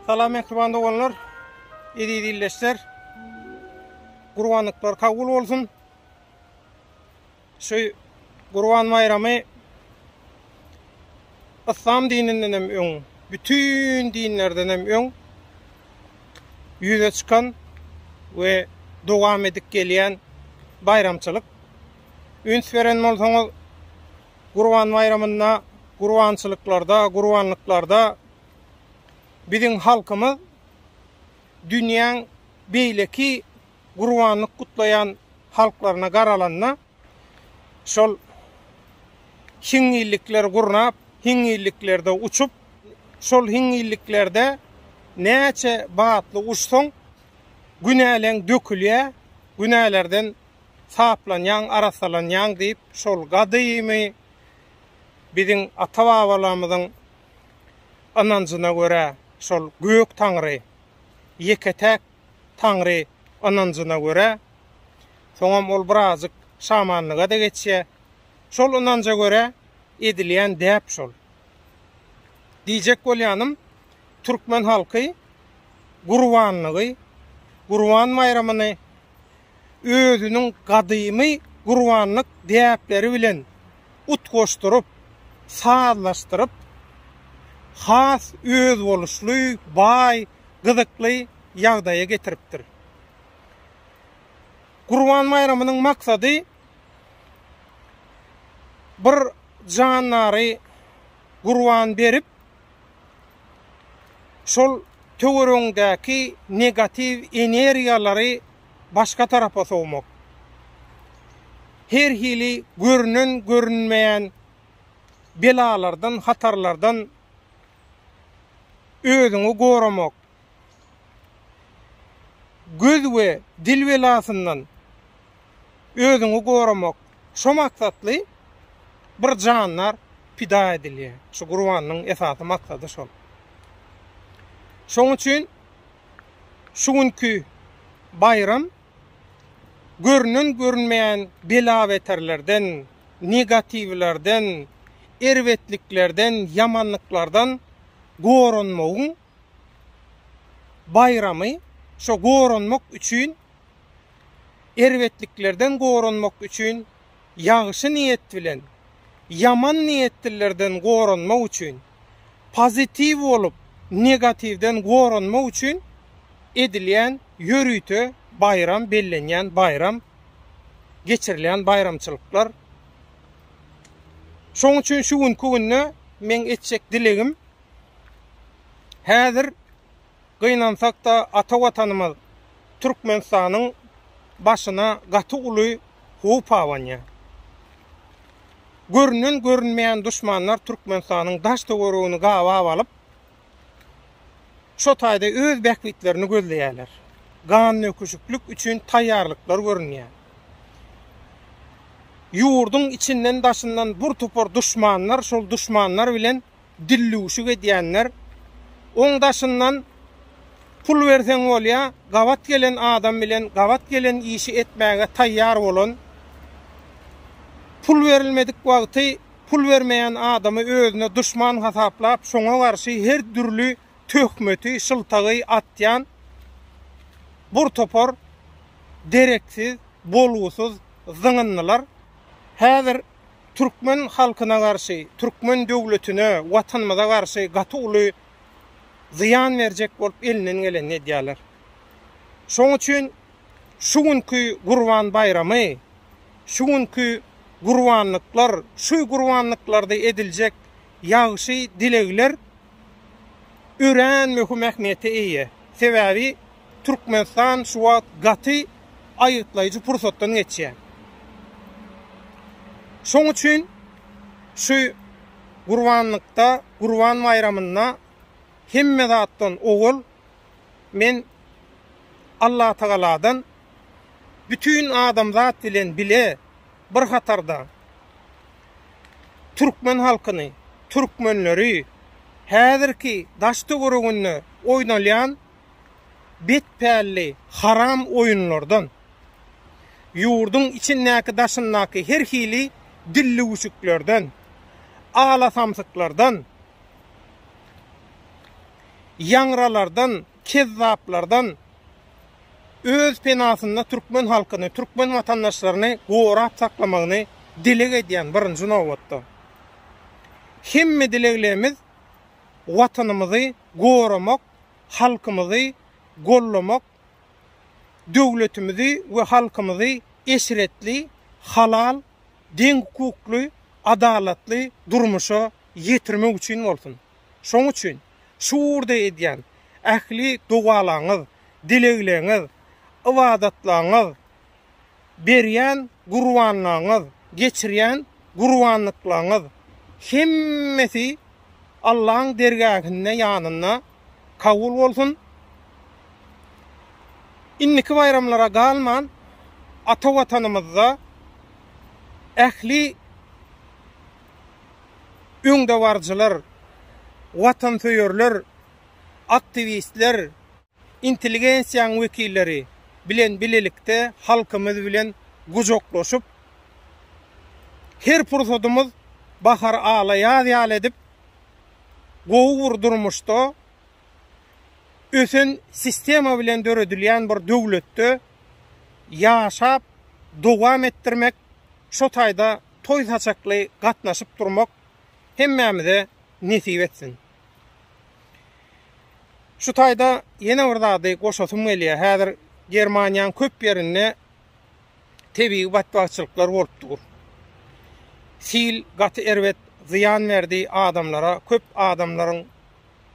Salam mehriban doganlar, eziz illeşler. Gurbanlyklar kabul olsun. Şu Gurban baýramy İslam dininden hem öň, bütün dinlerden hem öň ýüze çykan we dowam edip gelýän baýramçylyk. üns beren bolsaňyz, Gurban baýramynda gurbançylyklarda, gurbanlyklarda biziň halkymyz dünýäň beýleki gurbanlyk gutlaýan halklaryna garalanda, şol hiňňillikleri gurnap, hiňňilliklerde uçup, şol hiňňilliklerde näçe batly uçsaň, günäleň dökülýär, günälerden saplanýaň, arassalanýaň diýip, şol gadymy biziň ata-babalarymyzyň ynanjyna görä, şol gök Taňry, ýeke-täk Taňry ynanjyna görä, soňam ol birazajyk şamanlyga-da geçýär. Şol ynanja görä edilýän däp şol. Diýjek bolýanym, türkmen halky gurbanlygy, Gurban baýramyny özüniň gadymy gurbanlyk däpleri bilen utgaşdyryp, sazlaşdyryp, has özboluşly, baý, gyzykly ýagdaýa getiripdir. Gurban baýramynyň maksady bir jandary gurban berip, şol töweregiňdäki negatiw energiýalary başga tarapa sowmak. Her hili görünen-görünmeýän belalardan, hatarlardan özüňi goramak. Göz we dil belasyndan. özüňi goramak şu maksatly bir janlar pida edilýär. Şu gurbanyň esasy maksady şol. Şoň üçin şu günki baýram görünen görünmeýän bela-beterlerden, negatiwlerden, erbetliklerden, ýamanlyklardan goranmagyň baýramy şo goranmak üçin, erbetliklerden goranmak üçin, ýagşy niýet bilen, ýaman niýetlilerden goranmak üçin, pozitiw bolup, negatiwden goranmak üçin edilýän ýörite baýram, bellenýän baýram, geçirilýän baýramçylyklar. Şoň üçin şu günki günde meň etjek dilegim, Häzir gynansak-da ata Watanymyz Türkmenistanyň başyna gaty uly howp abanýar. Görünen-görünmeýän duşmanlar Türkmenistanyň daş-töweregini gabap alyp, şo taýda öz bähbitlerini gözleýärler. Gannöküşiklik üçin taýýarlyklar görünýär. Ýurduň içinden-daşyndan bir topar duşmanlar şol duşmanlar bilen dillüwşük edýänler, oň daşyndan pul berseň bolýa, gabat gelen adam bilen gabat gelen işi etmäge taýýar bolan, pul berilmedik wagty pul bermeýän adamy özüne duşman hasaplap, şoňa garşy her dürli töhmeti, şyltagy atýan bir topar dereksiz, bolgusyz zyňyndylar. Häzir türkmen halkyna garşy, türkmen döwletine, Watanymyza garşy gaty uly zyýan berjek bolup elinden gelenini edýärler. Şoň üçin şu günki Gurban baýramy, şu günki gurbanlyklar, şu gurbanlyklarda ediljek ýagşy dilegler örän möhüm ähmiýete eýe. Sebäbi, Türkmenistan şu wagt gaty aýgytlaýjy pursatdan geçýär. Şoň üçin şu gurbanlykda, Gurban baýramynda hemme zatdan owal men Allatagaladan bütin adamzat bilen bile bir hatarda türkmen halkyny, türkmenleri häzirki daş-töwereginde oýnalýan bet pälli haram oýunlardan, ýurduň içindäki-daşyndaky her hili dillüwşüklerden, alasamsyklardan, ýaňralardan, kezzaplardan öz penasynda türkmen halkyny, türkmen watandaşlaryny gorap saklamagyny dileg edýän birinji nobatda. Hemme dileglerimiz Watanymyzy goramak, halkymyzy gollamak, döwletimizi we halkymyzy eşretli, halal, deňhukukly, adalatly durmuşa ýetirmek üçin bolsun. Şoň üçin şu ugurda edýän ähli dowalaňyz, dilegleňiz, ybadatlaňyz, berýän gurbanlygyňyz, geçirýän gurbanlyklaryňyz hemmesi Allaň dergähinde, ýanynda kabul bolsun. Indiki baýramlara galman, ata Watanymyzda ähli öňdebaryjylar, watansöýerler, aktiwistler, intelligensiýanyň wekilleri bilen bilelikde halkymyz bilen gujaklaşyp, her pursadymyz bahar ala ýaz ýaly edip, gowy bir durmuşda, ösen sistema bilen döredilýän bir döwletde ýaşap dowam etdirmek, şo taýda toý-saçakly gatnaşyp durmak hemmämize nesip etsin! Şu taýda ýene bir zady goşasym gelýär. Häzir Germaniýanyň köp ýerinde tebigy batbagçylyklar bolup dur. Sil gaty erbet zyýan berdi adamlara. Köp adamlaryň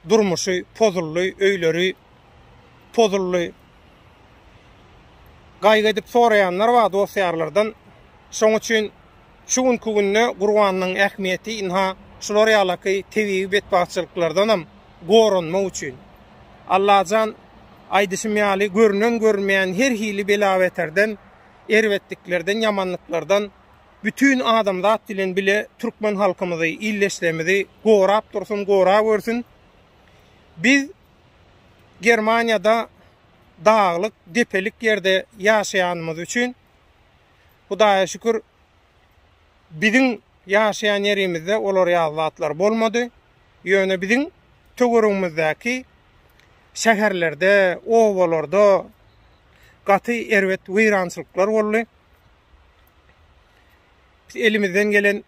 durmuşy pozuldy, öýleri pozuldy. Gaýgy edip soraýanlar bar dost-ýarlardan. Şoň üçin Şu günki günde gurbanyň ähmiýeti ynha şular ýalaky tebigy betbagtçylyklardanam goranmak üçin. Allajan, aýdyşym ýaly, görünen-görünmeýän her hili bela-beterden, erbetliklerden, ýamanlyklardan bütin adamzat bilen bile türkmen halkymyzy, ildeşlerimizi gorap dursun, gorawersin. Biz Germaniýada daglyk, depelik ýerde ýaşaýanymyz üçin Hudaýa şükür, biziň ýaşaýan ýerimizde olar ýaly zatlar bolmady. Ýöne biziň töweregimizdäki şäherlerde, obalarda gaty erbet weýrançylyklar boldy. Biz elimizden gelen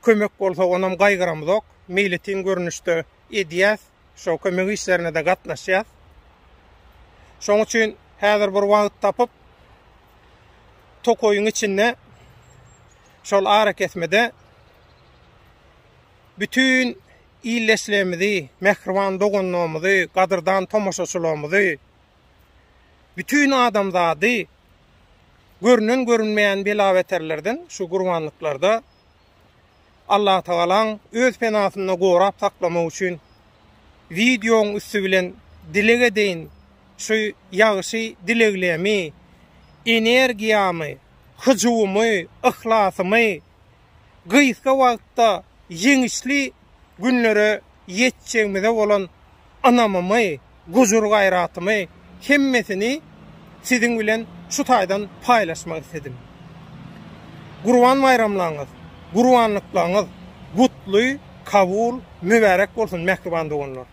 Kömek bolsa onam gaýgyramyzok. Meýletin görnüşde edýäs. Şo kömek işlerine-de gatnaşýas. Şoň üçin häzir bir wagt tapyp tokaýyň içinde şol arakesmede bütin ildeşlerimizi, mähriban doganlarymyzy, gadyrdan tomaşaçylarymyzy, bütin adamzady görnen-görünmeýän bela-beterlerden şu gurbanlyklarda Allatagalaň öz penasynda gorap saklamagy üçin wideoň üsti bilen dileg edeýin şu ýagşy dileglemi energiýamy hyjuwymy yhlasymy gysga wagtda ýeňişli günlere ýetjegimize bolan ynamymy, gujur-gaýratymy hemmesini siziň bilen şu taýdan paýlaşmak isledim. Gurban baýramlaryňyz, gurbanlyklaryňyz gutly, kabul, mübärek bolsun, mähriban doganlar!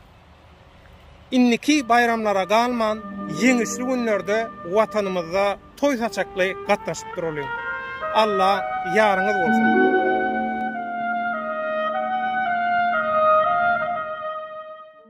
Indiki baýramlara galman, ýeňişli günlerde Watanymyzda toý saçakly gatnaşyp duralyň! Alla ýaryňyz bolsun!